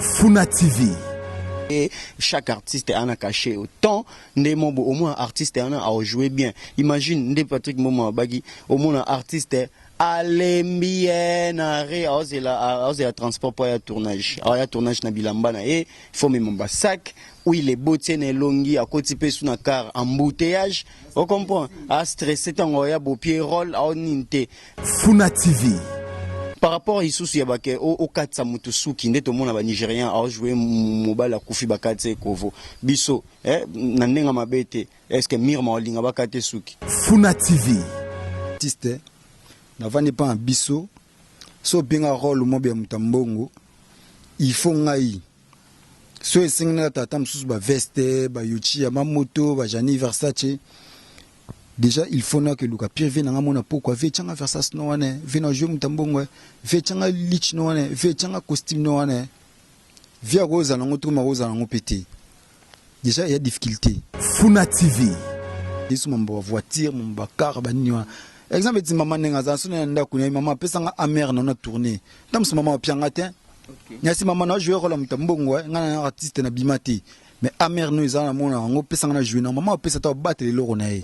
Funa TV. Et chaque artiste a un cachet autant nde mobo au moins artiste a a joué bien imagine nde Patrick Momo abaki au moins un artiste alembi ye na re aozela transport mpo aya tournage aya tournage na bilamba na ye fo mema basak huile eboti ye na elongi akoti mpe su na car embouteillage ocomprend astresse ntango aya bopie role aonini te Funa TV. Par rapport isusu ya bake okatisa moto suki nde tomona ba nigérien aojoue mobali akufi bakatisa ekovo biso eh, na ndenge mabe te eske mirma olinga bakate suki funa tv artiste navandi mpa na biso so obenga role mobe ya moto ya mbongo il faut ngai so esengi na tata mosusu ba veste ba yochia ba moto ba jani versace déjà il faut na keluka pire vie nanga mona pokwa vie changa versace no wana vie na jeu mutambongo vie changa lich no wana vie changa costume no wana vie akozala ngo to makozala ngo pete Dejà ya difficulté. Funa TV. Yesu mambo ya voiture, mambo ya car, ba nini wana. Exemple eti maman ndenge aza sona ya ndako na maman apesa nga amère na na tourner. Ndamusu maman apia nga te. Okay. Nyasi maman na jouer rôle muta mbongo eh, nga na artiste na bima te. Mais amère no eza na mona yango pesa nga na jouer na maman apesa ta batele loko na ye.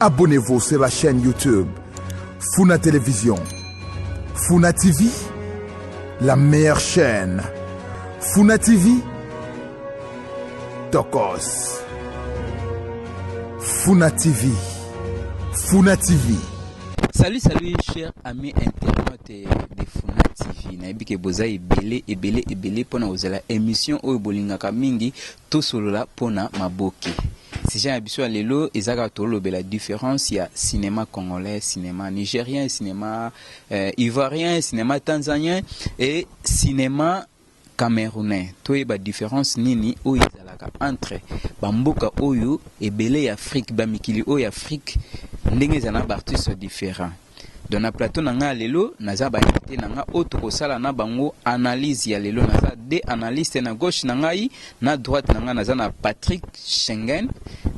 Abonnez-vous sur la chaîne YouTube Funa Télévision. Funa TV, la meilleure chaîne. Funa TV, Tokos. Funa TV. Funa TV. Salut, salut, cher ami internaute de Funa TV. nayebi ke boza ebele ebele ebele mpona kozala émission oyo bolingaka mingi Tosolola mpo na maboke. Sujet na biso ya lelo eza kaka tolobela difference ya cinema congolais, cinema nigerien, cinema euh, ivoirien, cinema tanzanien et cinema camerounais. Toyeba difference nini oyo ezalaka entre ba mboka oyo ebele ya Afrique, ba mikili oyo ya Afrique ndenge ezala na ba artistes differents. Donc na plateau na nga lelo naza ba invité na nga oyo tokosala na bango analyse ya lelo naza deux analystes na gauche na ngai na droite na nga naza na Patrick Schengen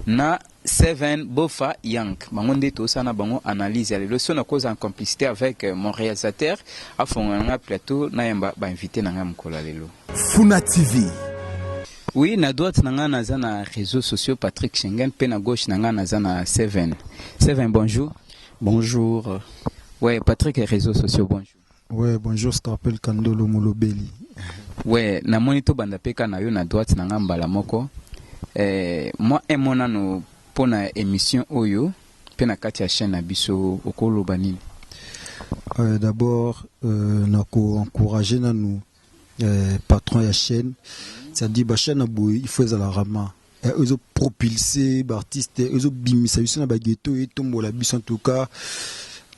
na Seven Bofa Yang bango nde tosala na bango analyse ya lelo so nakoza en complicité avec euh, mon réalisateur afongola na nga plateau nayamba ba invité na nga mokolo ya lelo Funa TV. Oui, na droite na nga naza na réseaux sociaux Patrick Schengen mpe na gauche na nga naza na Seven. Seven, bonjour. Bonjour. Ouais, Patrick et réseaux sociaux, bonjour. Ouais, bonjour Scarpel Kandolo Molobeli. Ouais, na moni to banda peka na yo na droite na ngamba la moko. Eh, moi et mon ano pona émission oyo pe na kati ya chaîne na biso okoloba nini? Euh, d'abord euh, na ko encourager nanu eh, patron ya chaîne c'est-à-dire ba chaîne boye il faut ezala rama eh, ezo propulser ba artistes eh, ezo bimisa biso na ba ghetto et tombola biso en tout cas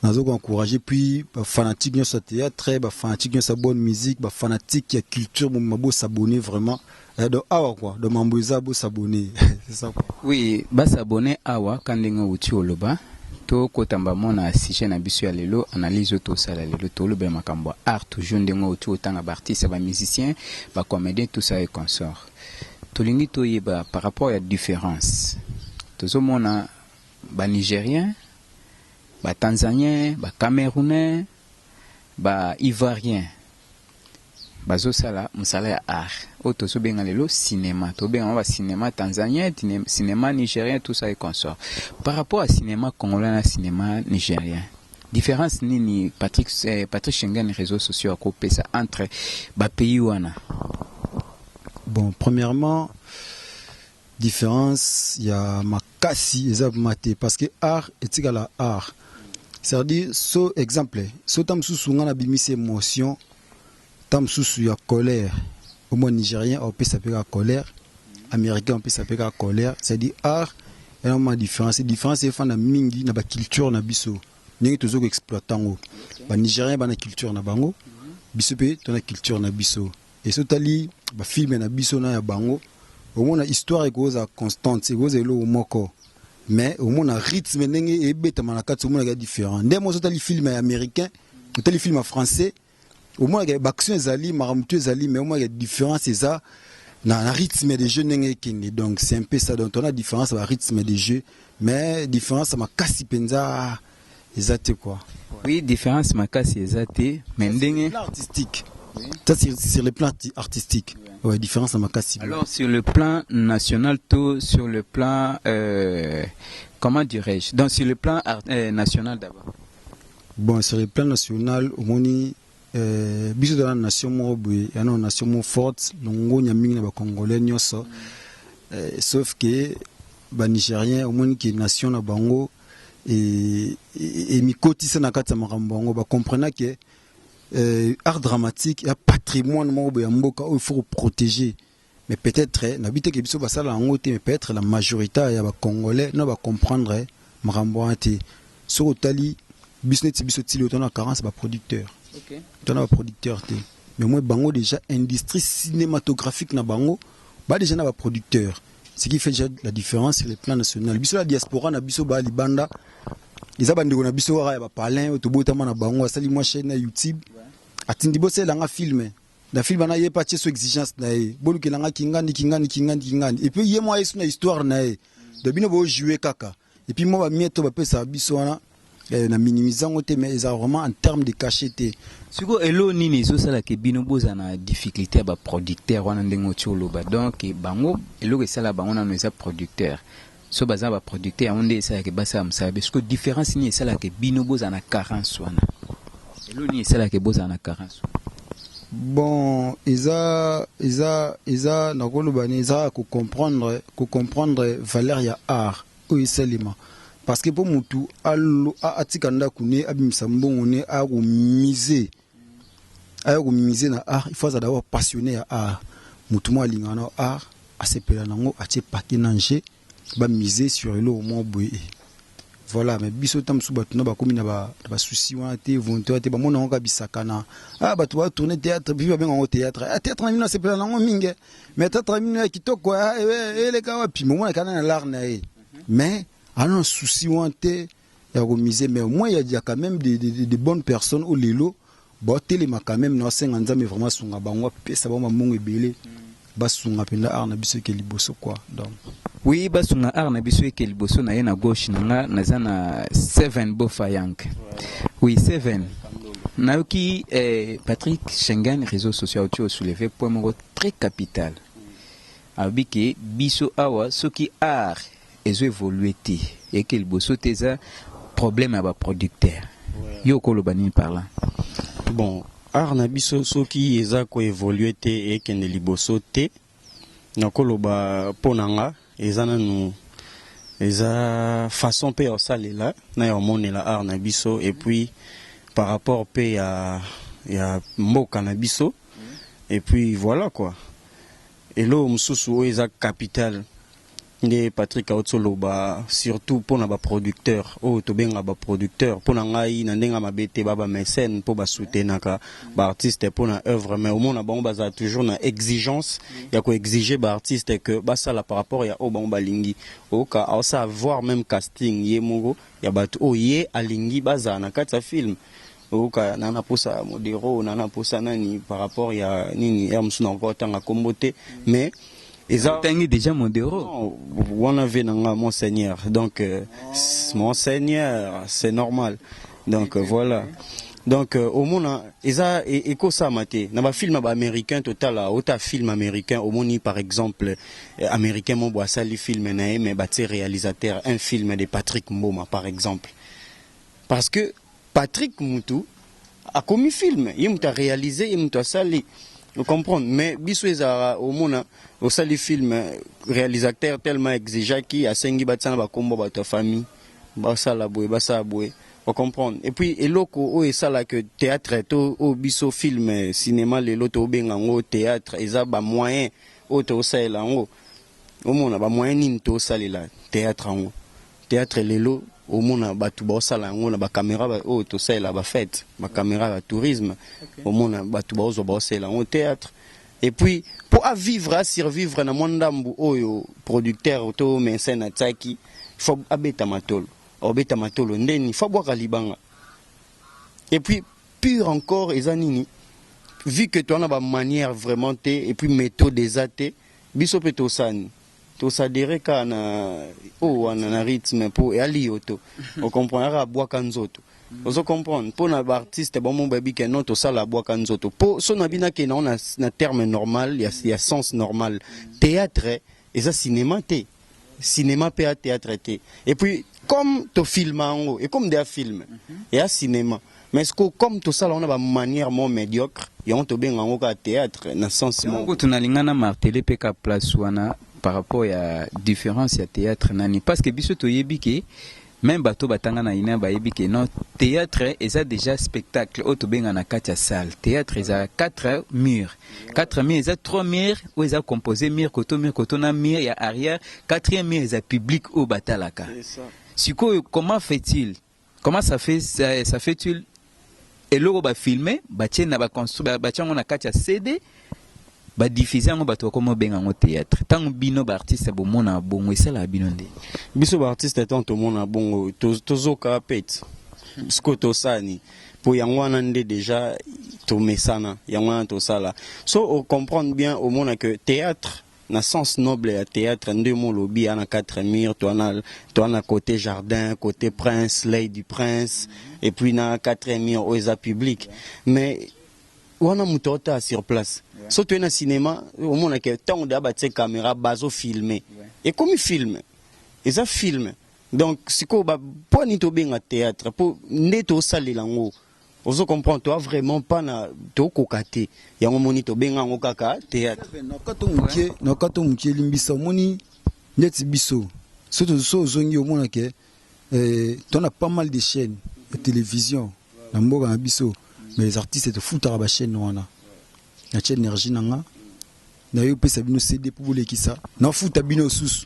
nazo ko encourager puis ba fanatiques nyonso ya théâtre ba fanatiques nyonso ya bonne musique ba fanatiques ya culture mobimba bo s'abonner vraiment Eh do awa quoi do mambo eza bo s'abonner c'est ça quoi. Oui ba s'abonner awa ka ndenge owuti oloba to kota mba mwa na sujet na biso ya lelo analyse oyo to sala lelo to lobela makambo ya art toujours ndenge owuti otanga ba artistes ba musiciens ba comediens tout ça et consort to lingi to yeba par rapport ya difference tozo mona ba nigeriens ba tanzaniens ba camerounais ba ivoiriens Bazo sala musala ya art oyo tozo benga lelo cinema to benga yango ba cinema tanzanien cinema nigerien tout ça et consort par rapport ya cinema congolais na cinema nigerien difference nini Patrick eh, Patrick Schengen réseaux sociaux ako pesa entre ba pays wana bon premièrement différence ya Kasi eza vraiment te parce que art etikala art c'est à dire so exemple so ta mususu nga na bimisi emotion ta mususu ya colère au moins nigérien au pesa peka colère américain au pesa peka colère c'est à dire art et non ma différence différence efa na mingi na ba culture na biso ndenge tozo ko exploiter ngo ba nigérien ba na culture na bango biso pe to na culture na biso Esi otali ba films na biso na ya bango, omona histoire ekoza constante, ekoza eloko moko. Mais omona rythme ndenge ebetama na kati omona ya différent. Nde mo otali film ya américain, otali film ya français, omona ya action ezali, makambo tu ezali mais omona ya différence eza na, na rythme de jeu ndenge ekende. Donc c'est un peu ça donc on a différence ba rythme de jeu mais différence makasi penza eza te quoi. Oui difference makasi eza te mais ndenge artistique ça c'est sur le plan artistique ouais différence na makasi alors sur le plan national to sur le plan euh, comment dirais-je donc sur le plan euh, national d'abord bon sur le plan national omoni euh, biso toza na nation moko boye ya na nation moko forte longonya mingi na bacongolais nyonso euh, sauf que banigérien omoni ke nation na bango emikotisa e, e, e na kati ya makambo yango bacomprena ke euh, art dramatique ya patrimoine moko boye ya mboka oyo faut koprotege mais peut-être eh, nabi te ke biso basala yango te mais peut-être la majorité ya bacongolais no bacomprendre eh, makambo wana te soki otali biso neti biso tili otana na carence baproducteur okay. otana baproducteur te mais moi bango déjà industrie cinématographique na bango ba déjà na baproducteur ce qui fait déjà la différence sur le plan national biso la diaspora na biso ba libanda eza bandeko na biso kaka ya bapalin oyo tobotama na bango asali mwa chaîne na youtube atindi bosela nga filme na filme wana ye mpe atye so exigence na ye bolukela nga kingani kingani kingani kingani epuis ye mwa yesu na histoire na ye do bino bojoue kaka Et puis moi ba miettes ba pesa biso wana eh, na minimisant te mais eza vraiment en terme de cachet te. Siko elo nini ezo sala ke bino boza na difficulté ya ba producteur wana ndenge oti oloba donc eh, bango eloko esala bango nano eza producteur so baza ba producteur yango nde esala ke basala mosala be siko différence nini esala ke bino boza na carence wana Eloko nini esalaka ke bozala na carence wana? Bon eza eza eza nakoloba nini eza ya ko comprendre ko comprendre valeur ya art oyo esalema parce que po mutu alo a- atika ndaku ne abimisa mbongo ne aya ko mise aya ko mise na art il faut azala d'abord passionne ya art mutu moko alingaka na art asepela nango atie paquet na nje Ba miser sur eloko moko boye eh. Voilà mais biso ta musu batu na bakomi na ba na ba souci wana te volonté wana te bamona yango kaka bisakana ah batu ba tourner théâtre puis babenga yango théâtre ah théâtre na bino nasepela na yango mingi eh. mais théâtre na bino ya kitoko ah, eh, eh, eleka wapi momona kana na lar na ye mais ana na souci wana te ya ko miser mais au moins il y a quand même des, des, des bonnes personnes au lelo ba telema quand même na senga nzambe vraiment sunga bango pesa bango mbongo ebele ba sunga penda art na biso ke liboso quoi donc oui ba sunga art na biso ke liboso na ye na gauche na nga naza na 7 bofa yank oui 7 nayoki eh, Patrick Schengen réseaux sociaux tu as soulevé point moko très capital alobi ke biso awa soki art ezo evolue te eke liboso te eza problème ya ba producteur yo okoloba nini par là bon art na biso soki eza ko evolue te ekende liboso te nakoloba mpo na nga eza nanu eza façon mpe ya osalela na ya omonela art na biso et puis par rapport mpe ya ya mboka na biso et puis voilà quoi eloko mosusu oyo eza capital Nde Patrick awuti oloba surtout pona ba producteur oyo tobenga ba producteur pona ngai na ndenge ya mabe te ba ba mecene po ba soutenaka ba artiste pona oeuvre mais omona bango bazala toujours na exigence ya ko exige ba artiste que basala par rapport ya oyo bango balingi oyoka aosala voir meme casting ye moko ya batu oyo ye alingi bazala na kati ya film Oyoka na na posa modero na na posa nani par rapport ya nini heure mosusu nakoki kotanga kombo te mais eza otangi dejà modero wana vie na nga mon seigneur donc mon seigneur c'est normal donc voilà donc omona eza ekosama te na ba film ya ba americain totala ota film americain omoni par exemple americain moko boye asali film na ye mais batie realisateur un film de patrick mboma par exemple parce que Patrick mutu akomi film ye mutu a realiser ye mutu asali o comprendre mais biso ezalaka omona osali film realisateur tellement exigea ki asengi batia na ba kombo ya batu ya famille basala boye basala boye o comprendre et puis eloko oyo esala que theatre to oyo biso film cinema lelo tobenga yango theatre eza ba moyen oyo tosalela yango omona ba moyen nini to salela theatre yango theatre lelo omona batu ba osala yango na ba camera ba oyo to salela ba fete ba camera ya tourisme omona batu ba ozwa ba osalela yango theatre et puis po a vivre a survivre na mwa ndambu oyo producteur to mecene atiaki faut abeta matolo obeta matolo ndeni faut abwaka libanga et puis pure encore eza nini vu que toza na ba manière vraiment te et puis methode eza te Biso pe tosani to s'adherer kaka na oyo wana na rythme po ya liyoto o comprendre kaka bwaka nzoto ozo comprendre po na ba artistes ba moko ba yebi ke non tosala bwaka nzoto po son na bino akende na yango na terme normal ya sens normal theatre eza cinema te. cinema pe ya theatre te et puis comme to filma yango et comme dia film et ya cinema mais ce que comme to sala on a ba manière mo médiocre yango to benga yango ka theatre na sens mo ko tuna linga na marteler pe ka place wana par rapport ya différence ya theatre nani parce que biso to yebi ke Meme bato oyo batanga na UNER bayebi que non, theatre eza dejà spectacle oyo tobenga na kati ya salle. Theatre eza quatre murs. Quatre murs eza trois murs oyo eza compose mur koto mur koto na mur ya arrière. Quatrième mur eza public oyo batalaka. Sikoyo comment fait-il? Comment ça fait ça fait-il Eloko ba filme batie na ba construire batie yango na kati ya CD ba diffuser yango bato bakoma obenga yango theatre. Ntango bino ba artistes bomona bongo esalaka bino nde? Biso ba artistes ntango tomona bongo tozoka pete sikoyo tosala nini? mpo yango wana nde deja tomesana yango wana tosala so o comprendre bien omona que theatre Na sens noble ya theatre nde mo lobi a na quatre murs toa na toa na cote jardin cote prince l'oeil du prince et puis na quatrième mur oyo eza public mais wana mutu ao tala sur place so toye na cinema omona ke tango deja ba tie camera bazo filme ekomi film eza film donc sikoyo ba pwani to benga theatre po nde to salela ngo Ozo comprend toi vraiment pas na to koka te yango moni to benga yango kaka theatre na kato mukie na kato mukie limbisa moni ndeti biso so to so zongi omona ke eh, to na pas mal de chaînes de télévision na mboka na biso mais les artistes to futaka ba chaînes wana na chaîne énergie nanga naye opesa bino CD po bolekisa nafuta bino susu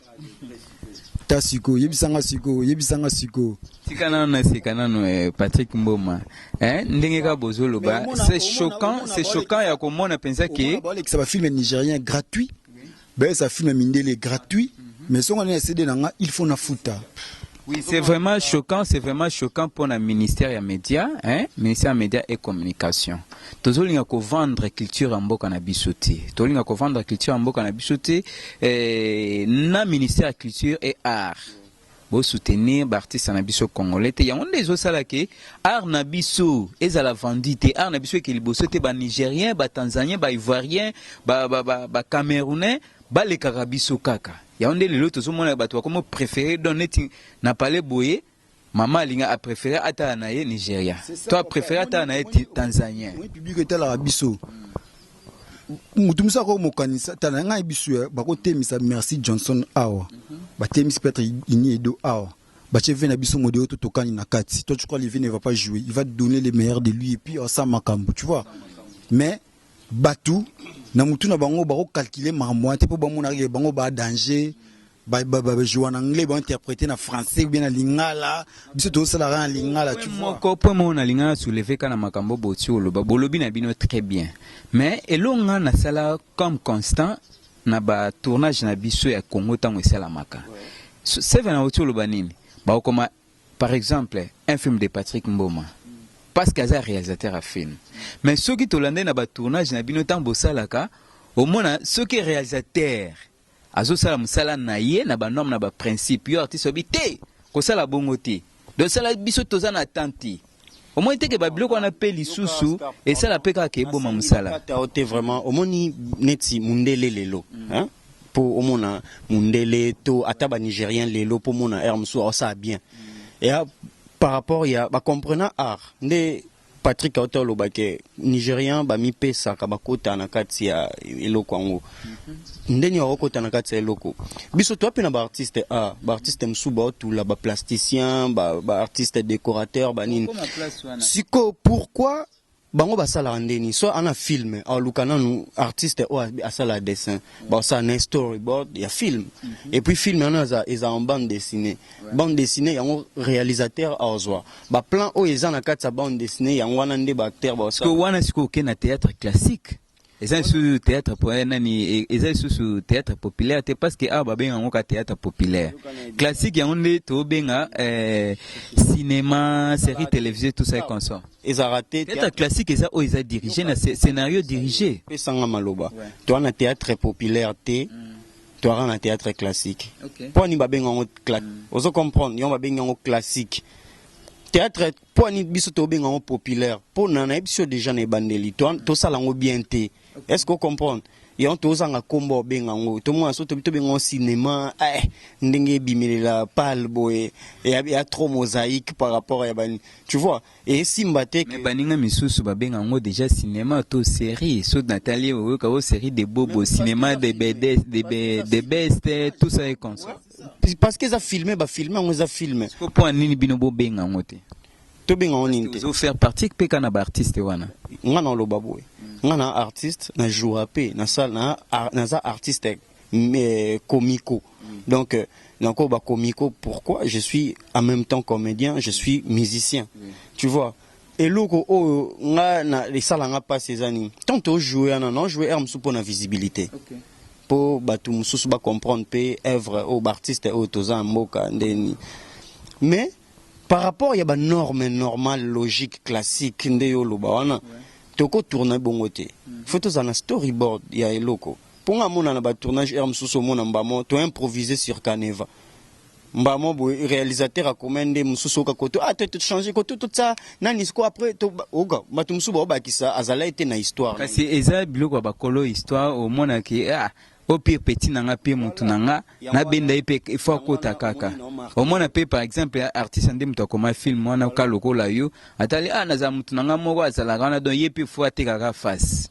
ta siko yebisa nga siko yebisa nga siko tika nano na sika nano eh, Patrick Mboma eh, ndenge ka bozo loba c'est choquant c'est choquant ya komona pensa ke balekisa ba film nigérien gratuit bayesa film mindele gratuit mais songa na CD na nga il faut nafuta Oui, c'est vraiment choquant, c'est vraiment choquant pour le ministère des Médias, hein, ministère des Médias et Communication. Tozolinga ko vendre culture en mboka na biso te. Tozolinga ko vendre culture en mboka na biso te eh, na ministère de culture et art. Bo soutenir l'artiste na biso congolais te. Yango nde ezosala ke art na biso ezala vendu te. Art na biso ke liboso te ba Nigériens, ba Tanzaniens, ba Ivoiriens, ba ba ba, ba Camerounais Balekaka biso kaka yango nde lelo tozomona bato bakomi prefere don neti na pale boye mama alinga a prefere atala na ye nigerian to a prefere atala na ye tanzanien public etalaka biso motu mosu akoki mokanisa tala na ngai biso ya bakotemisa merci johnson awa batemisi petre ini edo awa batie ve na biso modeo to tokani na kati toi tu crois live ne va pas jouer il va donner le meilleur de lui et puis asa makambo tu vois mais Batu na mutu na bango bako calculer makambo wana te po bamonaka ke bango ba danger ba ba ba jouer na anglais ba interpreter na français ou bien na lingala biso tozo sala kaka na lingala tu vois moko point moko nalinga na soulever ka na makambo boti oloba bolobi na bino très bien mais eloko nga nasala comme constant na ba tournage na biso ya congo ntango esalamaka seven auti oloba nini bakokoma Par exemple un film de Patrick Mboma parce que aza realisateur ya film mais soki tolandeli na ba tournage na bino tango bosalaka omona soki realisateur azosala mosala na ye na ba norme na ba principe yo artiste obi te kosala bongo te donc sala biso toza na temps te. omoni te ke ba biloko wana pe lisusu esala pe kaka eboma mosala te vraiment omoni neti mundele lelo hein po omona mundele to ata ba nigérien lelo po omona heure mosusu aosala bien ya par rapport ya ba comprenant art nde patrick auta oloba ke Nigerian ba mi pesaka ba kota na kati ya eloko yango nde nini bako kota na kati ya eloko biso toi pe na ba artiste a ah, ba artiste musu ba otula ba plasticien ba ba artiste decorateur ba nini siko pourquoi bango ba sala nde ni so ana film a luka na nu artiste o a sala dessin ba sa na storyboard ya film mhm. et puis film ana za eza en bande dessinée bande dessinée yango réalisateur a ozwa Ba plan oyo eza na kati ya bande dessinee yango wana nde ba acteur ba osala. Sikoyo wana sikoyo oke na theatre classique eza lisusu theatre po eh, nani e, eza lisusu theatre populaire te parce que awa babenga yango ka theatre populaire classique yango nde tobenga eh, cinéma série télévisée tout ça et consort ezalaka te theatre classique eza oyo eza dirige na sce- scénario dirige pesanga maloba to wana theatre populaire te Tuara na theatre classique okay. Pwani babenga yango cla... mm. ozo comprendre yango babenga yango classique theatre pwani biso tobenga yango populaire mpo na nayebi biso deja na ebandeli mm. tosala yango bien te okay. est ce que ocomprendre yango tozanga nkombo obenga yango tomona so tobi tobenga yango cinéma eh, ndenge ebimelela pale boye ya trop mosaïque par rapport ya bani tu vois Esimba te que. Mais baninga misusu babenga yango dejà cinema to serie soki natali ye oyoka oh serie de bobo cinema de bedes de be de best tout ça est comme ça. Parce que eza filme ba filme yango eza film. Sikoyo pona nini bino bo benga yango te? Tobenga yango nini te? Ozo faire partie pe kaka na ba artistes wana? Nga nao loba boye nga naa artiste na jouaka pe na sala naa naza artiste euh, comico donc euh, nako ba comico pourquoi je suis en même temps comédien je suis musicien tu vois eloko oyo nga na esala nga pasi eza nini tant ojoue wana na ojoue heure mosusu mpo na visibilité okay. mpo bato mosusu bacomprendre mpe œuvre oyo baartiste oyo toza ya mboka ndeni mais par rapport ya banorme normale logique classique nde yo oloba wana ouais. tokotourne bongo te mm. faut tozala na storyboard ya eloko Po nga mona na ba tournage heure mususu omona mbamo to improvise sur caneva mbamo boye realisateur akoma nde mususu oka koto ah to changer ko to tsa nani siko après to oka batu mususu ba obakisa azalaki te na histoire kasi eza biloko ya bakolo histoire omona ke ah o pire petit na nga pe mutu na nga na benda ye pe il faut akota kaka omona pe par exemple artiste nde mutu akoma film wana ka lokola yo atali ah nazala mutu na nga moko azalaka wana donc ye pe il faut atekaka face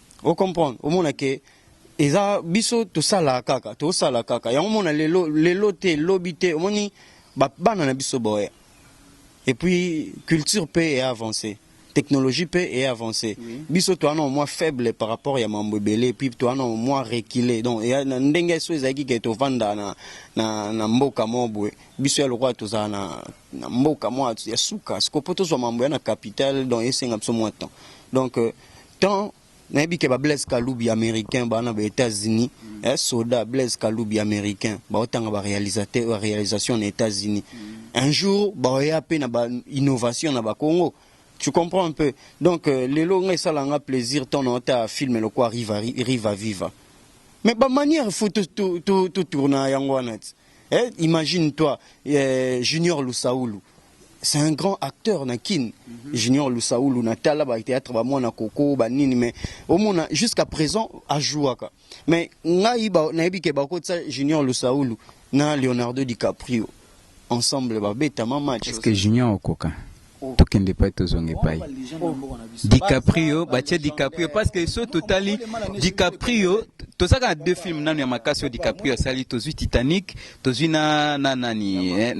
O comprendre omona ke eza biso tosala kaka tosala kaka yango mona lelo lelo te lobi te omoni ba bana na biso boye et puis culture pe e avancer technologie pe e avancer oui. biso toa na mwa faible par rapport ya mambo ebele et puis toa na mwa reculer donc ya na ndenge so ezalaki ke tovanda na, na, na mboka moko boye biso ya lokola tozala na, na mboka mwa ya suka sikopo tozwa mambo ya na capital donc esenga biso mwa temps donc euh, temps nayebi ke ba blaise kalubi américain bana ba états-unis mm. eh, soda blaise kalubi américain baotanga ba réalisateur ba réalisation na états-unis mm. un jour baoya mpe na ba innovation na bakongo tu comprends un peu donc euh, lelo ngai esala nga plaisir ntango naota film lokwa riva, riva viva mais bamanière fo totourna yango wana ti eh, imagine toi eh, junior lusaulu C'est un grand acteur na kin mm -hmm. Junior Lusaulu na tala ba théâtre ba mwana koko ba nini mais omona jusqu'à présent a jouaka mais ngai ba na yebi ke ba ko tsa Junior Lusaulu na Leonardo DiCaprio ensemble ba beta ma match est-ce que Junior okoka oh. tokende pai tozonga epai oh. DiCaprio batie DiCaprio parce que so totali DiCaprio tozaka na deux films nanu ya makasi oyo DiCaprio asali tozwi Titanic Tozui na na nani eh,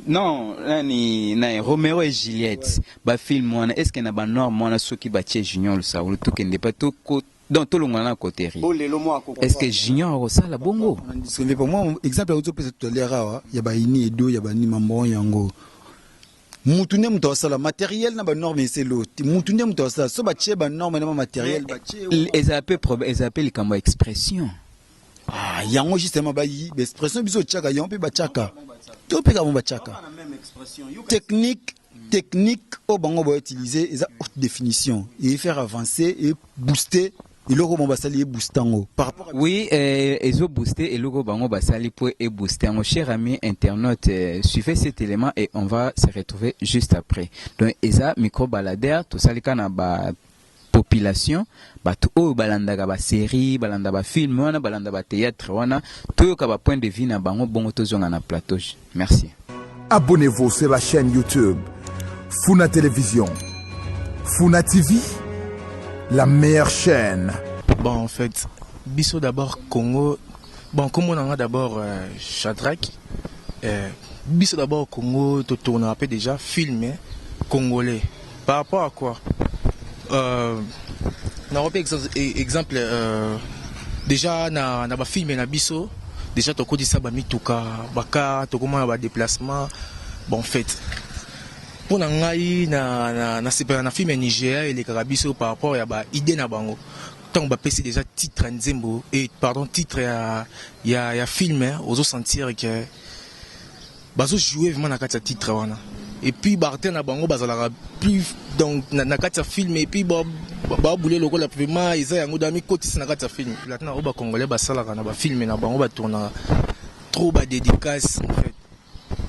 non nani na Romero et Juliette ba film wana est-ce que na ba norme wana soki ba tie Junior Lusaulu to kende pa to ko donc tolongola na coterie est-ce que Junior akosala bongo Sende pour moi exemple auto pesa tout à l'heure awa ya ba ini edo ya ba ni mambo yango mutu nde moto asala matériel na banorme eselo mutu nde moto asala so batie banorme na bamateriel ezala mpe likambo ya expression Ah, yango justement ba expression biso tchaka yango pe ba tchaka. To pe ka ba tchaka. Technique technique au oh, bango ba utiliser eza haute définition et faire avancer et booster eloko bango basali ebooste yango par rapport oui eh, ezo booste eloko bango basali mpo ebooste yango cher ami internaute eh, suivez cet élément et on va se retrouver juste après donc eza micro baladaire tosalika na ba population batu oyo balandaka ba serie balanda ba film wana balanda ba theatre wana toyoka ba point de vue na bango bongo tozonga na plateau merci Abonnez-vous sur la chaîne YouTube Funa Télévision. Funa TV, la meilleure chaîne. Bon, en fait, Bissot d'abord Congo. Bon, comme on en a d'abord euh, Shadrach. Euh, Bissot d'abord Congo, tout tourne un peu déjà, filmé, hein, congolais. Par rapport à quoi? Euh, nakope e-, exemple euh, deja na, na bafilme na biso deja tokotisa bamituka bakar tokomona badeplacement bon fait mpo na ngai nasepela na, na, na filme ya nigeria elekaka biso par rapport ya baide na bango ntango bapesi deja titre ya nzembo e pardon titre ya, ya, ya filme ozosentir ke Bazo jouer vraiment na kati ya titre wana et puis ba artère na bango bazalaka plus donc na kati ya film et puis ba boule lokola vraiment eza yango da mi kotisa na kati ya film. Latin oyo ba congolais basalaka na ba film na bango ba tournaka trop ba dedicace en fait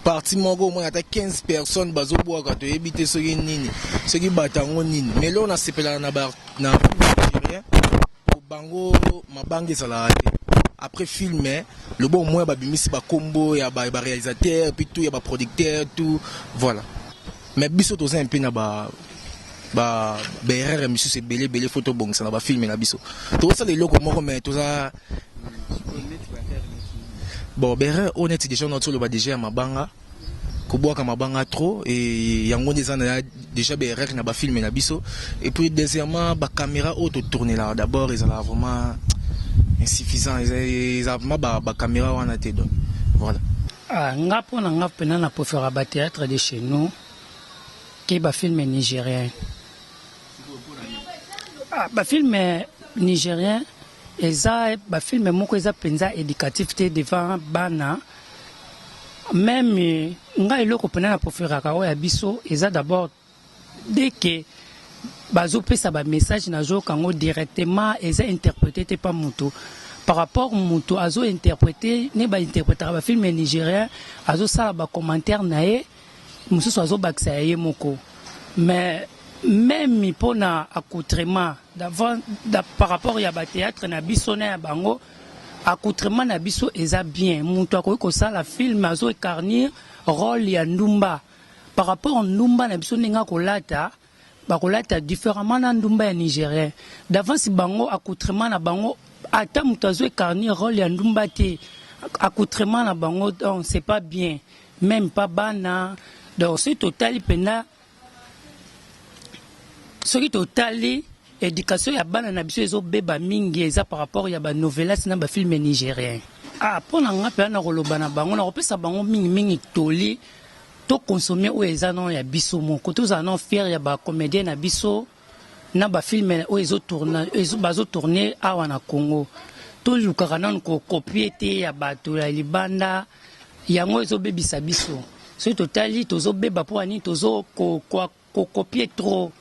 parti moko omona ata 15 personnes bazobwaka toyebi te soki nini soki bato yango nini mais leo nasepelaka na na bango mabanga ezalaka te après filme Le bon moyen ba bimisi ba kombo ya ba ba realisateur puis tout ya ba producteur tout voilà. Mais biso toza un peu na ba ba ba erreur ya misusu ebele ebele faut tobongisa na ba film na biso. Tozosala eloko moko mais toza bon ba erreur oyo neti deja naotoloba deja ya mabanga. kobwaka mabanga trop et yango nde eza na déjà ba erreur na ba film na biso et puis deuxièmement ba caméra oyo to tournelaka d'abord ezalaka vraiment insuffisant eza vraiment ba, ba caméra wana te donc voilà ah, nga mpo na nga mpena na préféra ba théâtre de chez nous ke ba film nigérien ah, ba film nigérien Eza ba film moko eza penza educatif te devant bana meme nga eloko pena na proferaka oyo ya biso eza d'abord dès que bazo pesa ba message na zo yoka ngo directement eza interprete te pa mutu par rapport mutu azo interprete ne ba interpretaka ba film nigerien azo sala ba commentaire na ye mususu azo bakisa ya ye moko mais meme pona accoutrement D'avant par rapport ya ba theatre na biso na ya bango accoutrement na biso eza bien mutu akoki kosala film azo ecarnir role ya ndumba par rapport ndumba na biso ndenge akolata bakolata differemment na ndumba ya nigerien d'avance bango accoutrement na bango ata mutu azo ecarnir role ya ndumba te accoutrement na bango donc c'est pas bien meme pas bana donc soki totali mpenza soki totali education ya bana na biso ezobeba mingi eza par rapport ya banovelas na bafilme nigérien ah, mpo na nga mpenza nakoloba na bango nakopesa bango mingimingi toli tokonsome oyo eza nano ya biso moko tozala nano fiere ya bacomédien na biso na ba film oyo ezo tourna bazo tourne awa na Congo tolukaka nanu ko copier te ya bato ya libanda yango ezobebisa biso soki totali tozobeba mpo ya nini tozo kokopier trop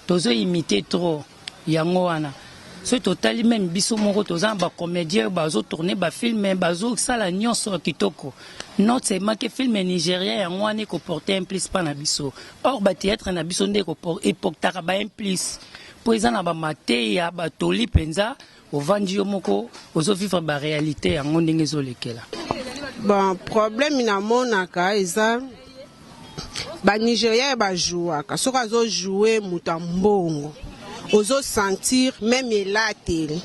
tozo imite trop yango wana soki totali meme biso moko toza na bacomédien bazo tourne bafilme bazosala nyonso kitoko not seulement ke filme nigeria yango wana ekoporte un plus mpa na biso Or ba theatre na biso nde epoctaka ba implice po eza na ba mateya ba toli penza ovandi yo moko ozo vivre ba realite yango ndenge ezo lekela. Bon problème na monaka eza ba Nigeria ba jouaka soki azo joue moto ya mbongo. ozo sentir meme elateli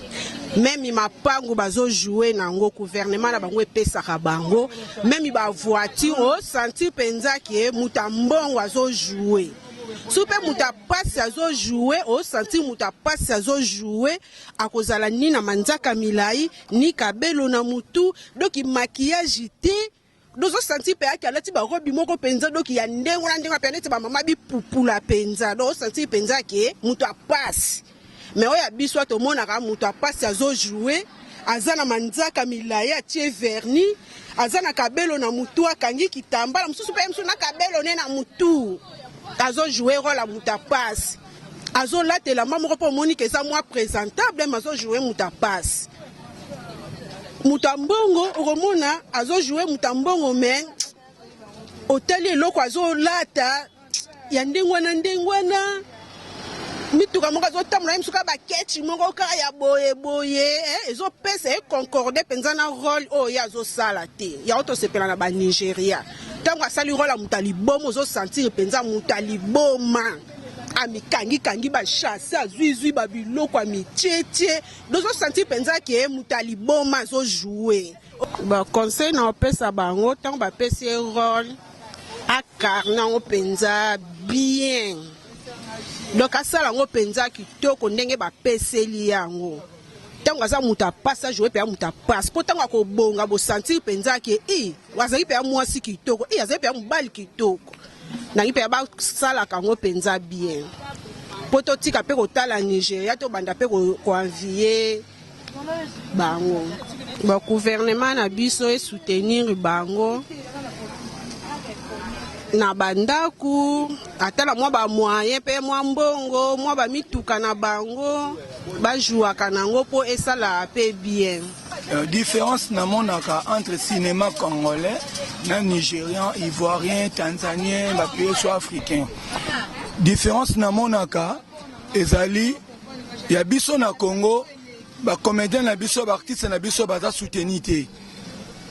meme mapangu bazo joue nango gouvernement na bango epesaka bango meme ba voiture o sentir mpenza ke moto ya mbongo azo joue so mpe moto ya mpasi azo joue o sentir moto ya mpasi azo joue akozala ni na manzaka milai ni kabelo na motu doki makiyage te Dozo sentir Peaki alati ba robe moko penza doki ya ndenge na ndenge pe neti ba mama bi pupula penza do sentir penza ke mutu a pasi mais oyo ya biso ato monaka mutu a pasi azo jouer aza na manzaka milaye atie verni aza na kabelo na mutu akangi kitambala mususu pe mususu na kabelo ne na mutu azo jouer role ya mutu a pasi azo lata elamba moko pe omoni ke eza mwa presentable mais azo jouer mutu a pasi moto ya mbongo okomona azo joue moto ya mbongo me otali eloko azolata ya ndenge wana ndenge wana mituka moko azotambola ye misuka bakechi moko kaka ya boye boye eh, ezopesa ye concorde mpenza na role oyo ye azosala te yango tosepela na banigeria ntango asali role ya moto ya liboma ozosantire mpenza moto ya liboma amikangikangi bashase azwizwi babiloko ya mitietie Dozo sentir penza que moto ya liboma azo jouer. Ba conseil na opesa bango tango ba pesi ye role akarna ngo penza bien. Donc asala ngo penza kitoko ndenge ba peseli yango. Tango aza moto ya pasi a jouer pe moto ya pasi po tango akobonga bo sentir penza que i azali pe mwasi kitoko i azali pe mobali kitoko. nangi mpenza basalaka yango mpenza bien mpo totika mpe kotala nigeria tobanda mpe koenvie bango baguvernema na biso esoutenir bango na bandako ata na mwa bamoyen mpe mwa mbongo mwa bamituka na bango bajuaka na yango mpo esala mpe bien Euh, différence na monaka entre cinéma congolais na nigérian ivoirien tanzanien bapaye so africain différence na monaka ezali ya biso na congo bacomédien na biso baartiste na biso baza souteni te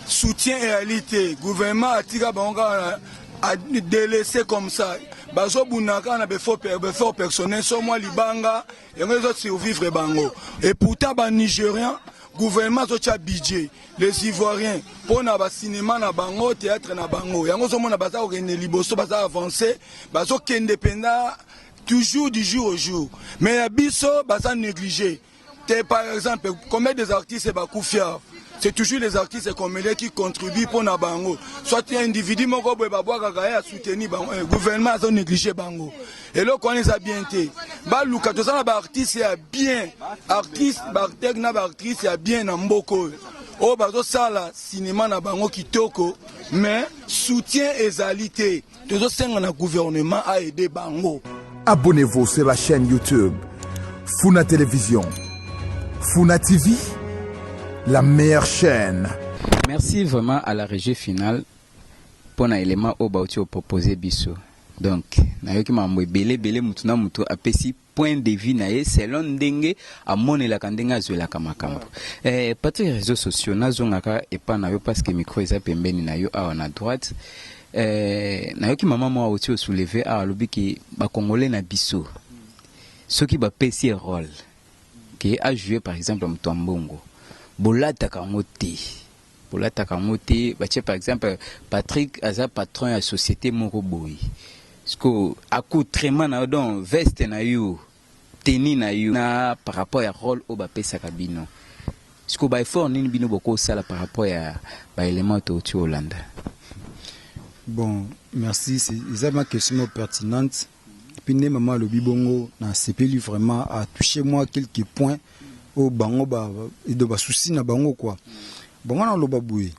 soutien eyali te gouvernement atika bango kaka adelese comme ça bazobunda kaka na befort personnel so mwa libanga yango ezo survivre bango et pourtant ba nigerian gouvernement azotia budget les ivoiriens mpo na basinema na bango théâtre na bango yango ozomona baza kokende liboso baza avance bazokende mpenza toujours du jour au jour mais ya biso baza néglige te par exemple combien des artistes bakufia c'est toujours les artistes comédiens qui contribuent mpo na bango soit individu moko boye babwakaka ye asoutenir bango eh, gouvernement azo néglige bango eloko wana eza bien te baluka toza na baartiste ya bien artiste barteg na baartiste ya bien na mboka oyo oyo bazosala sinema na bango kitoko mais soutien ezali te tozosenga na gouvernement aide bango abonnez-vous sur la chaîne youtube funa télévision funa tv la meilleure chaîne merci vraiment à la régie finale mpo na élément oyo bauti opropose biso Donc nayoki makambo ebele ebele mutu na mutu apesi point de vue na ye selon ndenge amonelaka ndenge azwelaka makambo. Eh, Patrick reseaux sociaux nazongaka epa na yo parce que micro eza pembeni na yo awa na droite. Eh, nayoki mama moko oti o soulever awa alobi ke ba congolais na biso soki bapesi ye role ke a jouer par exemple mutu ya mbongo bolataka yango te. Bolataka yango te batie par exemple Patrick aza patron ya societe moko boye siko accoutrement na yo donc veste na yo tenue na yo na par rapport ya role oyo bapesaka bino siko ba effort nini bino bokosala par rapport ya ba element touti olanda. Bon merci eza ma question moko pertinente. Epuis nde mama alobi bongo na sepeli vraiment a touche moi quelques points oyo bango ba edo ba souci na bango quoi bango na loba boye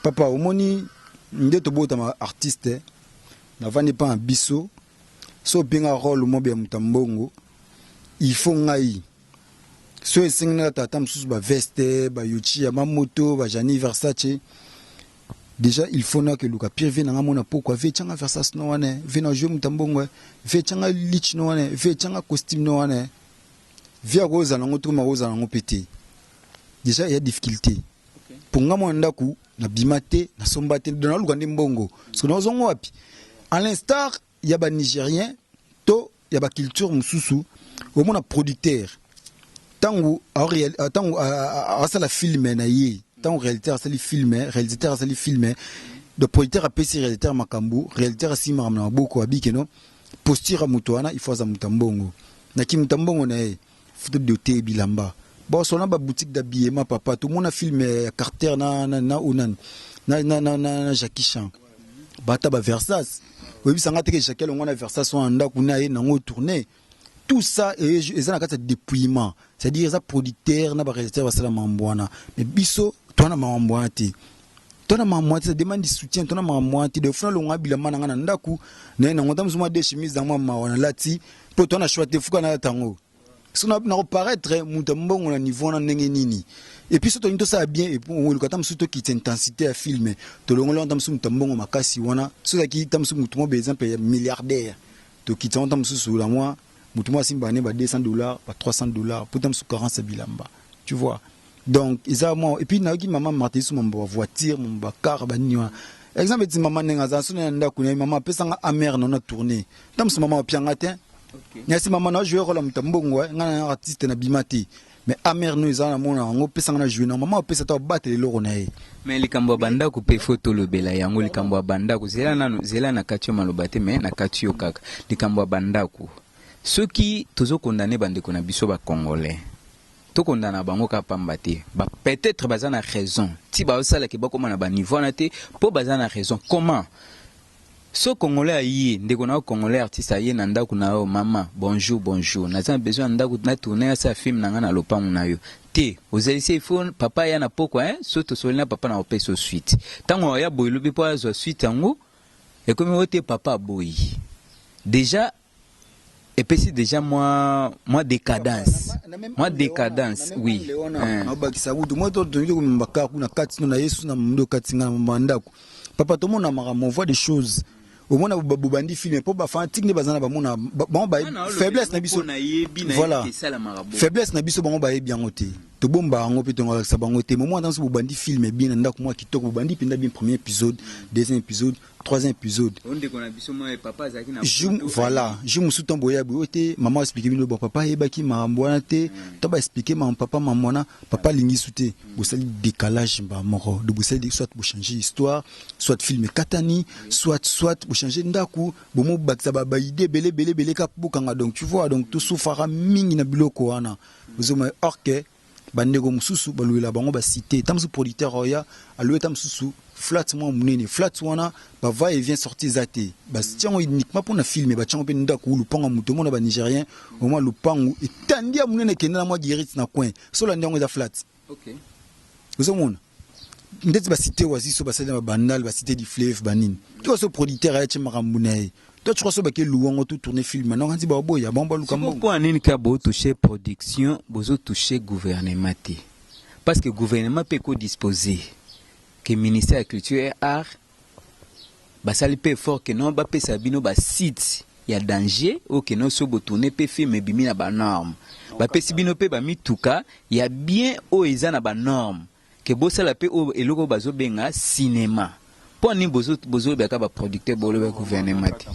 papa omoni nde tobotama artiste navandi pa na biso so openga role mobe ya moto ya mbongo il faut ngai so esengi naka tata mosusu ba veste ba yochi ya mamoto ba jani versace Dejà il faut nake luka pire vie nanga mona pokwa vie changa versas no wana vie na jouer muta mbongo vie changa lich no wana vie changa costume no wana vie ako zala ngo trop mako zala ngo pete dejà il y a difficulté pour nga mona ndaku na bima te na somba te na luka nde mbongo parce que na zongo wapi à l'instar ya ba nigerien to ya ba culture mususu omona producteur tangu tangu asala filme na ye tangu réalisateur asali filme réalisateur asali filme donc producteur apesi réalisateur makambo réalisateur asimi makambo na maboko abiki no posture ya moto wana il faut aza moto ya mbongo na kimutu ya mbongo na ye Photo de te bilamba ba sona ba boutique d'habillement papa to mona film ya Carter na na na onan na na na na na Jackie Chan bata ba Versace oyebisa nga te ke Jackie alongwa na Versace wana ndaku na ye nango tourner tout ça eza na kati ya dépouillement c'est-à-dire eza producteur na ba réalisateur basala mambo wana mais biso toana mambo wana te tona mama mwati sa demande du soutien tona mama mwati de funa longa bilamba na nga na ndaku na na ngota mzuma de chemise na mama wana lati po tona choix te fuka na tango so na ko paraître muta mbongo na niveau na ndenge nini et puis so to nito sa bien et on le kata msu to kit intensité ya film to longo lonta msu muta mbongo makasi wana so za ki tamsu mutu mo be exemple ya milliardaire to kit sa tamsu su la moi mutu mo asimba ne ba 200 dollars ba 300 dollars po tamsu 40 bilamba tu vois Donc eza mwa et puis nayoki maman Marthe Yesu mambo ba voiture, mambo ba car ba nini wana. Exemple ti maman nenga za sona ya ndaku na maman pesa nga amer na na tourner. Tam so maman pianga te. Okay. Nyasi maman na jouer rôle muta mbongo eh, nga na artiste na bimati. Mais amer no eza na mona yango pesa nga na jouer na maman pesa ta battre loko na ye. Mais likambo ya banda ko pe faut to lobela yango likambo ya banda ko zela na zela na katio maloba te mais na katio kaka. Likambo ya banda ko. Soki tozo condamner bandeko na biso ba congolais. Tokonda na bango kaka pamba te ba peut etre baza na raison ti bazo sala ke bakoma na ba niveau wana te po baza na raison comment soki congolais aye ndeko na yo congolais artiste aye na ndaku na yo mama bonjour bonjour naza na besoin ya ndaku na tourne na sala film na nga na lopangu na yo te ozali se il faut papa aya na pokwa hein soki tosololi na papa na kopesa yo suite tangu akoya boye lobi po azua suite yango ekomi oyo te papa aboyi dejà epesi deja mwa mwa decadence mwa decadence oui eh. nabakisa kutu mwa totongi komemba kaka kuna kati no na yesu na mondo kati nga na mambo ya ndako papa tomona makambo voie de choses omona bobandi filme mpo bafanatike nde baza na bamona bango ba faiblesse na biso voilà faiblesse na biso bango bayebi yango te tobomba yango mpe tongalakisa bango te momo ata nso bobandi filme bien na ndako mwa kitoko bobandi mpenza bien premier épisode deuxième épisode troisième episode oh, ndeko na biso mwa papa azalaki na jour voilà jour mosusu ntango boya boye te mama explike bino bon papa ayebaki makambo wana te hmm. to baexplike makambo papa mama wana papa hmm. alingi su te hmm. bosali décalage mba moko donc bosali soit bochange histoire soit film ekatani soit soit bochange ndako bomobakisa baide ebele ebele ebele ka bokanga donc tu vois donc tosufaka mingi na biloko wana ozoma orke ba ndeko mususu ba louela bango ba site ta mususu producteur oya a louer ta mususu flat mwa munene flat wana ba va et vient sorti eza te ba tiango uniquement pona film ba tiango pe ndaku ou lupango mutu mona ba nigeriens au moins lupangu etandia munene kende na mwa guerite na coin solo ndia ngo eza flat ok ozo mona ndeti ba site waziso basali na babandal ba site du fleuve banini to so producteur ayaki makambo na ye toi tu crois so bake luwango to tourner film na kanzi ba boya bango baluka mbongo pourquoi nini ka bo toucher production bozo toucher gouvernement te parce que gouvernement pe ko disposer que ministère ya culture et art Basali pe effort que non ba pesa bino ba sites ya danger oyo que non soki bo tourner pe film ebimi na ba normes. Ba pesi bino pe ba mituka ya bien oyo eza na ba normes que bo sala pe oyo eloko oyo bazo benga cinema. Pona nini bozo bozo loba kaka ba producteurs bo loba gouvernement te?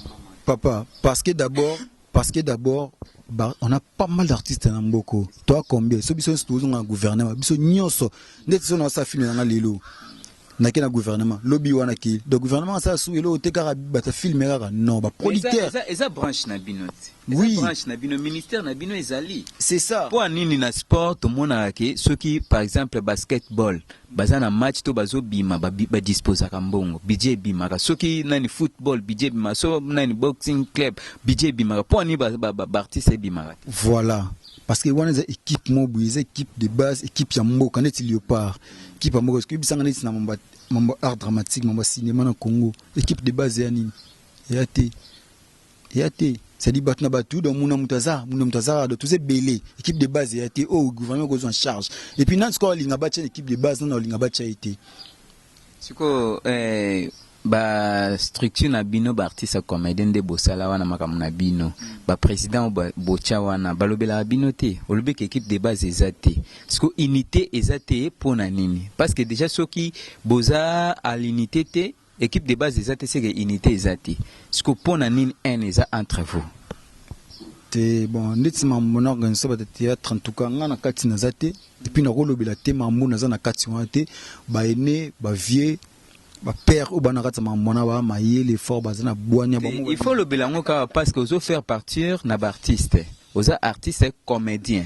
Papa parce que d'abord Parce que d'abord ba, on a pas mal d'artistes na mboko toi combien so biso nso tozonga na gouvernement biso nyonso ndeti so na sa film nanga lelo nake na gouvernement lobi wana ke donc gouvernement asala su eloko te kaka bata filme kaka non ba producteur eza, eza branche na bino te eza oui. branche na bino ministère na bino ezali c'est ça mpo nini na sport tomonaka ke soki par exemple basketball Baza na match to bazo bima ba disposaka mbongo budget ebimaka soki nani football budget ebimaka so nani boxing club budget ebimaka po ani ba, ba, ba, ba artiste ebimaka te voilà parce que wana eza équipe moko boye eza équipe de base équipe ya mboka neti Leopard équipe ya mboka soki bisanga neti na mambo mambo art dramatique mambo cinéma na Congo équipe de base ya nini ya te Eya te c'est-à-dire bato na bato donc muna moto aza muna moto aza donc toza ebele équipe de base eya te oyo oh, gouvernement ekozwa en charge et puis nani sikoyo alinga batya na équipe de base nani alinga batya ye te sikoyo eh, ba structure na bino ba artiste ya comédien nde bosala wana makambo na bino ba président botya wana balobelaka bino te olobi ke équipe de base eza te siko unité eza te mpo na nini parce que déjà soki boza à l'unité te Equipe de base eza te seke unite eza te sikoyo pona nini haine eza entre vous? te bon ndeti mambo na organise ba theatre en tout cas nga na kati naza te et puis nakolobela te mambo naza na kati wana te ba aine ba vieux ba père oyo bana kati mambo na ba mayele fort baza na bwania ba il faut lobela ngo kaka parce que ozo faire partir na ba artiste oza artiste comedien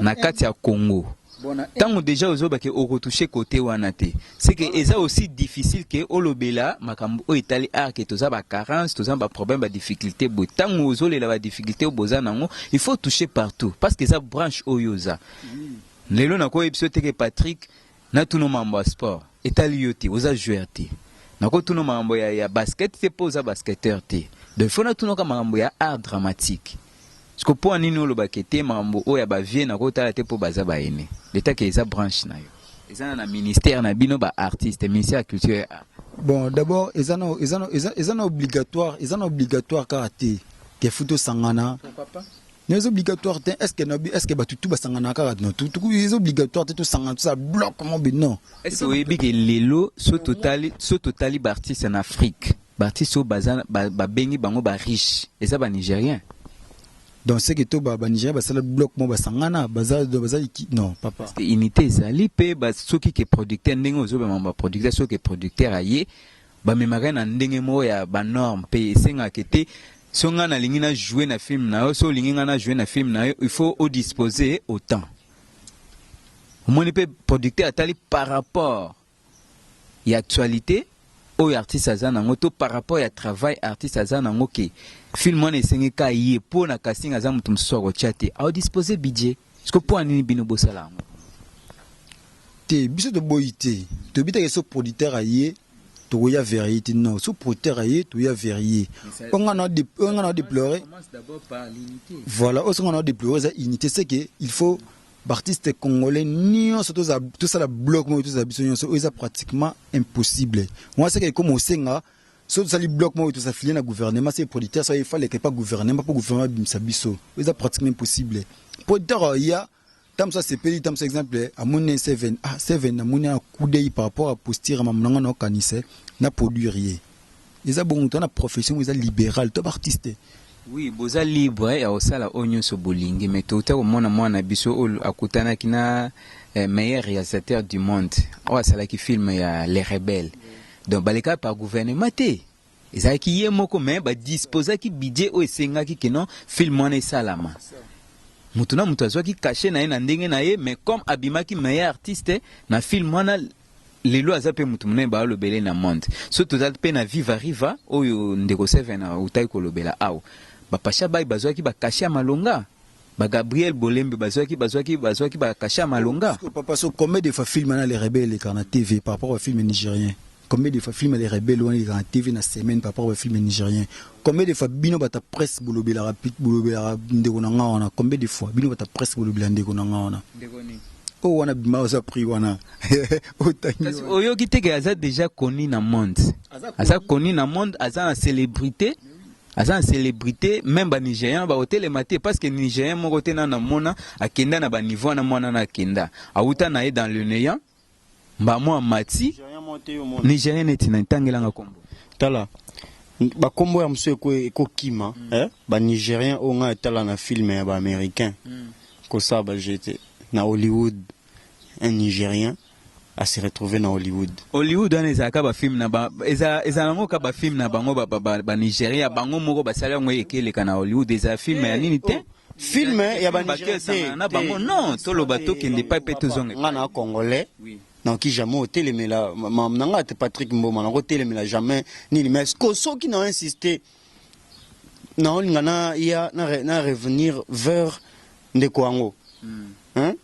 na kati ya Congo tango deja ozoba ke okotouche kote wana te seke eza aussi difficile ke olobela makambo oyo etali art ke toza ba carence toza ba problème ba difficulté boye ntango ozolela ba difficulté oyo boza nango il faut toucher partout parce que eza branche oyo oza lelo nakoyebisa yo te ke Patrick Na tuno mambo ya sport etali yo te oza joueur te nako tuno mambo ya ya basket te po oza basketteur te donc il faut na tuno ka mambo ya art dramatique siko po anini oloba ke te mambo oyo ya ba vieux nako tala te po baza ba aine leta ke eza branche na yo eza na na ministère na bino ba artiste ministère ya culture et art bon d'abord eza na eza na eza na obligatoire eza na obligatoire ka te ke futo sangana pourquoi pas Mais c'est obligatoire te est-ce que nabi est-ce que batu tout basangana kaka na tout tout c'est obligatoire te tout sangana tout ça bloque mon but non est-ce que oyebi que lelo so totali so totali b'artiste en Afrique b'artiste oyo baza ba- babengi bango ba riche eza ba nigérien donc c'est que to ba ba Nigeria basala bloc mo basangana baza baza ki- non papa Parce que unité ezali mpe ba- soki ke producteur ndenge ozobema ba producteur soki ke producteur aye bamemaka ye na ndenge moko ya ba norme mpe esengaka ke te so ngai nalingi na joue na film na yo so olingi ngai na joue na film na yo il faut odispose autant omoni mpe producteur atali par rapport ya actualité oyo artiste aza nango to par rapport ya travail artiste aza nango ke film wana esengeka ye mpo na casting aza moto mosusu akotya te aodispose budget Siko mpo nini bino bosala yango te? Biso toboyi te, toyebi te so producteur aye tokoya verrier te. Non, so producteur aye toya verrier. Oyo nga na oyo nga na deplorer. Voilà, oyo nga na deplorer eza unité, c'est que il faut B'artistes congolais nyonso toza tosala bloc moko toza biso nyonso oyo eza pratiquement impossible. Moi c'est que comme osenga Soki tosali bloc moko tosa filer na gouvernement se producteur soki fallait que pas gouvernement pour gouvernement bimisa biso eza pratiquement impossible producteur euh, ya ntango mosusu asepeli ntango mosusu exemple amoni seven ah seven namoni na kudei par rapport ya posture ya mamu na ngai naokanisa na produire ye eza bongo to na profession oyo eza libéral to baartiste oui boza libre eh, ya kosala oyo nyonso bolingi mais touta komona mwana na biso oyo akutanaki na eh, meilleur réalisateur du monde oyo asalaki film ya les rebelles Donc baleka par gouvernement te ezalaki ye moko mais ba disposaki budget oyo esengaki que non film wana esalama mutu na mutu azwaki cachet na ye na ndenge na ye mais comme abimaki meilleur artiste na film wana lelo aza pe mutu munene balobele na monde so toza pe na viva riva oyo ndeko seven autaki kolobela awa bapasha bai bazwaki bakashe ya malonga Ba Gabriel Bolembe bazwaki bazwaki bazwaki ba cachet ya malonga. Sikoyo papa so combien de fois film na le rebelle elekaka na TV par rapport ba film nigeriens? Combien de fois film ya le rebelle wana elekaka na TV na semaine par rapport ba film nigeriens? Combien de fois bino batu ya presse bolobelaka pit bolobelaka ndeko na nga wana combien de fois bino batu ya presse bolobela ndeko na nga wana? Ndeko nini? Oyo wana bima oza prix wana otangi Kasi wana. oyoki te ke aza deja connu na monde. Aza Aza connu na monde, aza na celebrite. aza na celebrite meme ba nigerian bakotelema te parce que nigerian moko te nana mona akenda na baniveau wana mwana na akenda awuta na ye dans le néant mbamo amati nigerian neti na ntangelanga kombo tala bakombo ya mosusu ekokima mm. eh? banigérien oyo ngai etala na filme ya baaméricain mm. kosala bajete na hollywood un nigérien a se retrouver na Hollywood. Hollywood wana ezala ka ba film na ba ezala ezala ngo ka ba film na bango ba ba, ba, ba Nigeria bango moko basala yango ekeleka na Hollywood ezala film ya nini te. Film ya ba Nigeria esangana na bango non toloba tokende epai mpe tozonga epai. Nga na congolais oui. nakoki jamais otelemela mamu na nga te Patrick Mboma nako telemela jamais nini mais ko soki na insister naolinga na ya na, re, na revenir vers ndeko yango mm. hein?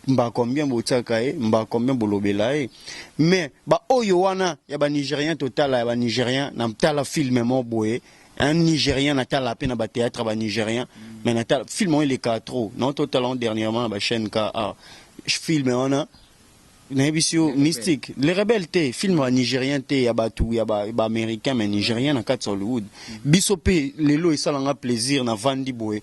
Mbà combien botiaka ye mbà combien bolobela ye mais ba oyo wana ya ba nigerian totala ya ba nigerian na tala film moko boye un nigerian na tala pe na ba theatre ba nigerian mais na tala film oyo eleka trop na oto tala dernièrement na ba chaîne ka a film wana nayebisi yo mystique le rebelle te film ba nigerian te ya batu ya ba, ba américain mais nigerian na kati hollywood biso pe lelo esala nga plaisir na vandi boye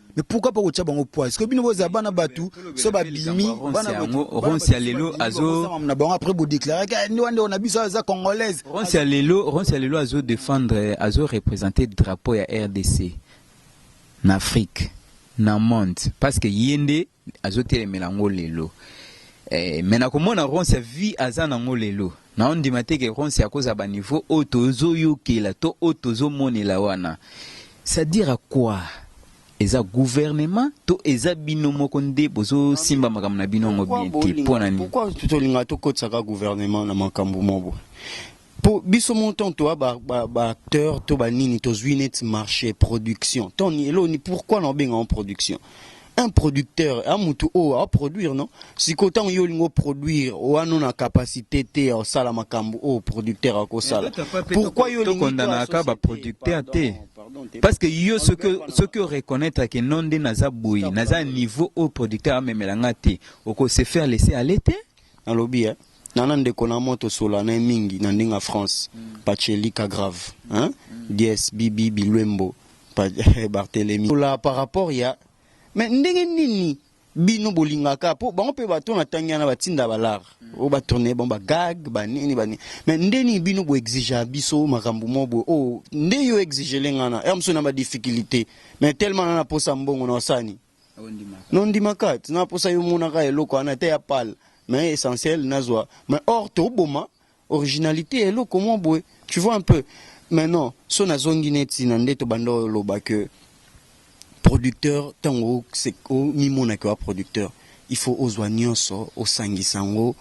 mais pourquoi pas kotia bango poids que bino bozala bana batu so babimi bana yango ronsi ya lelo azo na bango après bo déclarer que eh, ndio ndio na biso aza congolaise ronsi ya lelo ronsi ya lelo azo défendre azo représenter drapeau ya RDC na Afrique na monde parce que yende azo telemela ngo lelo eh, mais nakomona ronce vie aza na ngo lelo naondima te ke ronce akozala ba niveau oyo tozoyokela to oyo tozomonela wana ça dire à quoi eza gouvernement to eza bino moko nde bozosimba makambo na bino yango bien te mpo na nini pourquoi tolinga tokotisaka gouvernement na makambo moko po biso mon temps toi ba, ba, ba acteur to ba nini tozwi neti marché production ton eloni pourquoi na obenga en production un producteur a mutu oyo oh, aproduire no sikoyo ntango yo olingi oproduire wana na capacité te ya osala makambo oyo oh, producteur akosala pourkui yo tokondanaka baproducteur te parce que yo soki oreconnaitre ke non nde naza boye naza niveau oyo producteur amemela nga te okose faire laisser aller te Na lobi eh Nana ndeko na moi to sola na ye mingi na ndinga France patshe lika grave hein dies bibi biluembo pa Barthelemy sola par rapport ya mais ndenge nini bino bolinga ka po bango pe ba to na tangi wana ba tinda ba lar o ba tourne bango ba gag ba nini ba nini mais nde nini bino bo exija biso makambo mo boye oh nde yo exijele nga na heure mosusu na ba difficulite mais tellement na na posa mbongo na osani Nondima kate na posa yo monaka eloko wana te ya pal mais essentiel nazwa mais or toboma originalite ya eloko mwa boye tu vois un peu mais non so nazongi neti na nde tobanda oloba que producteur ntango omimonaki wa producteur il faut ozwa nyonso osangisa yango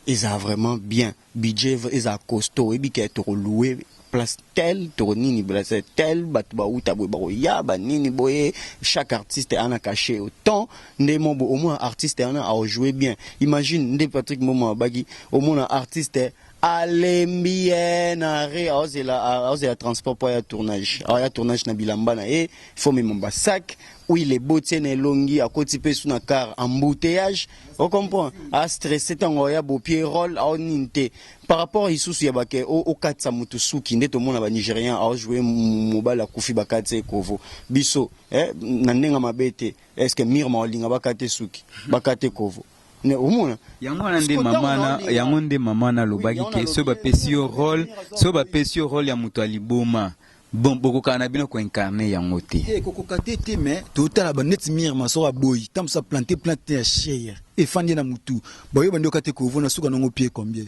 eza vraiment bien Budget ezala costaud oyebi ke toko louer place tel toko nini place tel batu ba wuta boye bako ya ba nini boye chaque artiste a na cachet au temps nde mo boye omona artiste wana ako jouer bien imagine nde Patrick Mboma alobaki omona artiste a lembi eeh na arret azo zela azo zela transport po aya tournage awa ya tournage na bilamba na ye faut omema ba sac huile eboti ye na elongi akoti pe su na car embouteillages o comprend a stressé tango oya bopie role ao nini te par rapport isusu ya bake okatisa motu suki nde tomona ba nigérien aojoue mobali akufi bakati ye kovo biso eh, na ndenge mabe te est ce que mirma olinga bakate suki bakate kovo omona yango wana nde mama yango nde mama nalobaki ke so bapesi yo role so bapesi yo role ya moto ya liboma Bon bokokana na bino ko incarner yango te. Te kokoka te te mais totala ba net mire masoko aboyi ntango mosusu aplante plante ya share efandi ye na motu baoyo bandi yoka te kovo na suka nango pie combien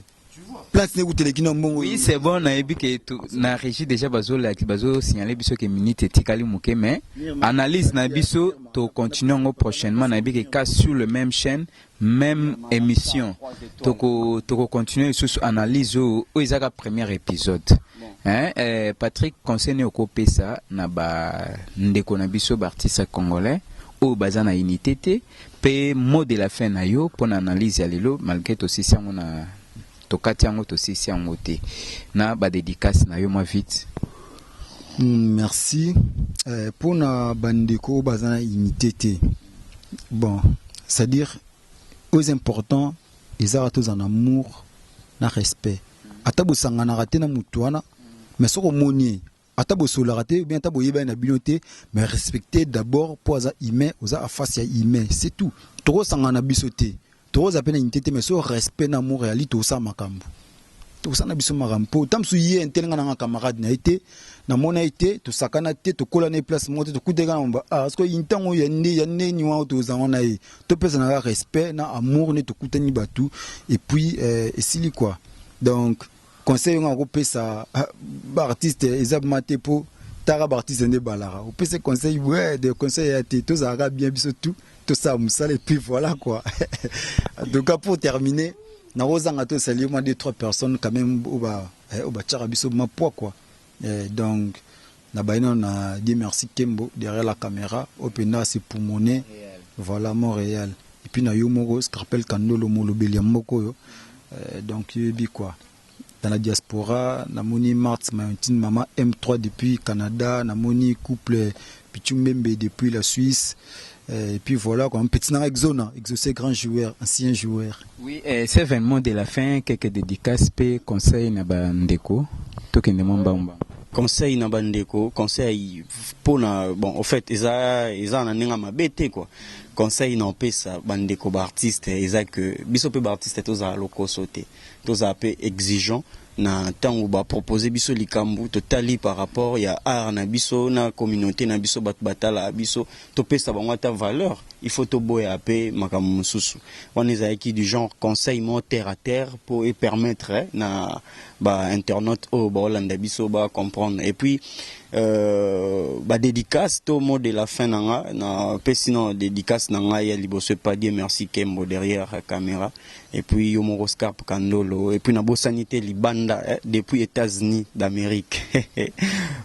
plante ne kuteleki na mbongo Oui, c'est bon, nayebi ke tu- na régie déjà bazo laki- bazo signaler biso ke minute etikali moke mais analyse na biso to continuer yango prochainement nayebi ke cas sur le même chaîne Meme emission toko toko continuer lisusu analyse oyo oyo eza ka premier episode hein eh, Patrick conseil nini okopesa na ba ndeko na biso ba artistes congolais oyo baza na unité te pe mot de la fin na yo pona analyse ya lelo malgre tosisi yango na Tokati yango tosisi yango te na ba dedicace na yo mwa vite. Mm, merci eh, mpo na bandeko oyo baza na unité te bon c'est à dire oyo eza important ezaka tozala na amour na respect ata bosanganaka te na motu wana mais soki omoni ye ata bosololaka te bien ata boyebani na bino te mais respecte d'abord mpo aza humain oza afasi ya humain c'est tout tokosangana na biso te tokoza mpe na unité te mais so respect na amour yali tokosala makambo tokosala na biso makambo mpo ta mosusu ye ntelenga nanga camarade na ye te namona ye te tosakana te tokola na ye place moko te tokuteka na mba ah, siko ntango oyo ya nde ya ndeni wana tozango na ye topesanaka respect na amour nde tokutani bato epuis eh, esili kua donc Conseil nga ko pesa ba artiste eza ma te po taka ba artiste nde balaka. O pesa conseil ouais de conseil ya te tozala ka bien biso tout to sa musala et puis voilà quoi. en tout cas pour terminer na ko zanga to saluer moi deux trois personnes quand même oba oba tchaka biso ma poa quoi. Eh donc na baye nanu na Dieu merci kembo derrière la camera oyo penda asi poumone voilà Montreal et puis na yo moko Scarpel Kandolo molobeli ya mboka oyo eh, donc yo yebi quoi dans la diaspora na moni Marthe Mayontine maman M3 depuis Canada na moni couple Pichu Mbembe depuis la Suisse. Euh, et puis voilà quoi, un petit nanga Exona, Exaucé grand joueur, ancien joueur. Oui, euh, c'est vraiment de la fin, quelques dédicaces, pe conseils na ba ndeko, tokende mwa mbangu mbangu. conseil na bandeko conseil mpona bon au fait eza eza na ndenge mabe te quoi conseil na opesa bandeko baartiste eza que biso mpe baartiste tozala lokoso te tozala mpe exigeant Na tango ba proposer biso likambu to tali par rapport ya art na biso na communaute na biso batu ba tala biso to pesa bango ata valeur il faut to boya pe makambu mususu. Wana ezalaki du genre conseil moko terre à terre po e permettre na ba internautes oyo bao landa biso ba comprendre. Et puis ba dedicaces to mot de la fin na nga na pesi nano dedicace na ngai ya liboso epa Dieu merci Kembo derrière camera Et puis yo moko Scarp Kandolo et puis na bosani te libanda eh, depuis Etats-Unis d'Amérique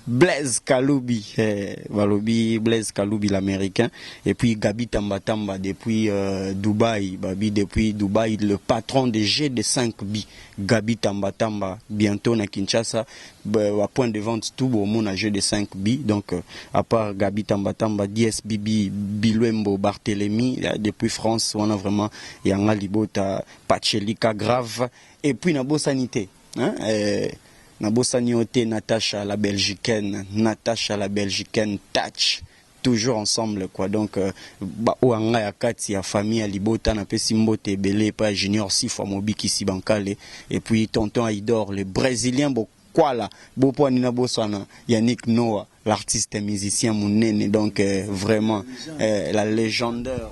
Blaise Kalubi eh, balobi Blaise Kalubi l'américain et puis Gabi Tamba Tamba depuis euh, Dubaï babi depuis Dubaï le patron de G de 5 bi Gabi Tamba Tamba bientôt na Kinshasa ba point de vente tout bo mona jeu de 5 but donc à part Gabi Tamba Tamba, Dies Bibi, Biluembo, Barthelemy depuis France wana vraiment ya nga libota Pachelika grave et puis na bosani te hein eh, na bosani yo te Natacha la Belgicaine, Natacha la Belgicaine touch Toujours ensemble quoi donc ba oyo ya nga ya kati ya famille ya libota na pesi mbote ebele epa ya junior sifwa mobikisi ba nkale et puis tonton ayidor le bresilien bo kwala bo pua nini na bosana yannick noah l'artiste musicien munene donc vraiment eh la legendeur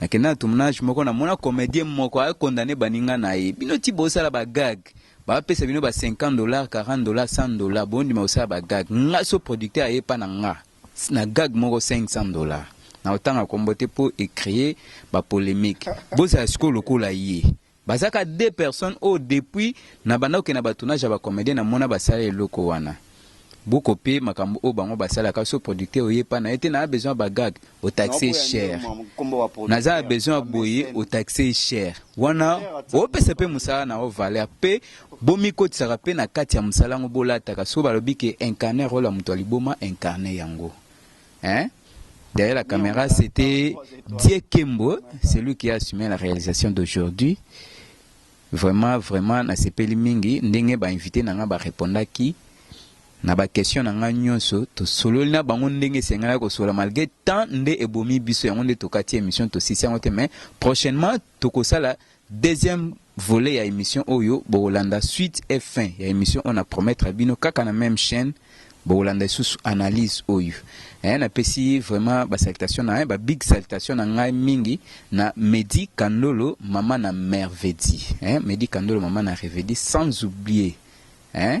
Nakenda na tournage moko na mona comedien moko a condamner baninga na ye. Bino ti bosala ba gag. Ba pesa bino ba 50 dollars, 40 dollars, 100 dollars. Bondima kosala ba gag. Nga so producteur aye epa na nga na gag moko 500 dollars. Nakotanga kombo te po e creer ba polemique. Bozala sikoyo lokola ye. Baza ka deux personnes oyo depuis na banda kokende na ba tournage ya ba comediens na mona basala eloko wana. Bo copier makambo oyo bango basalaka soki producteur oye epa naye te naa besoin ya ba gag o taxe ye cher. Naza na besoin ya boye o taxe ye cher. Wana o pesa pe musala na yo valeur pe bo mikotisaka pe na kati ya musala yango bo lataka soki balobi ke incarner role ya mutu ya liboma incarner yango. Hein? Derrière la caméra, c'était Diekembo, celui qui a assumé la réalisation d'aujourd'hui. Vraiment, vraiment, na sepeli mingi, ndenge ba invité nanga ba répondaki na ba question nanga nyonso, to sololi na bango ndenge sengala ko sola malgré temps nde ebomi biso yango nde tokati émission to sisi yango te mais prochainement tokosala deuxième Volet ya emission oyo bokolanda suite et fin ya emission oyo na promettre bino kaka na meme chaine bokolanda lisusu analyse oyo eh, napesi vraiment ba salutation na eh, ba big salutation na ngai mingi na Medi Kandolo mama na Mervedi eh, Medi Kandolo mama na Revedi sans oublier eh,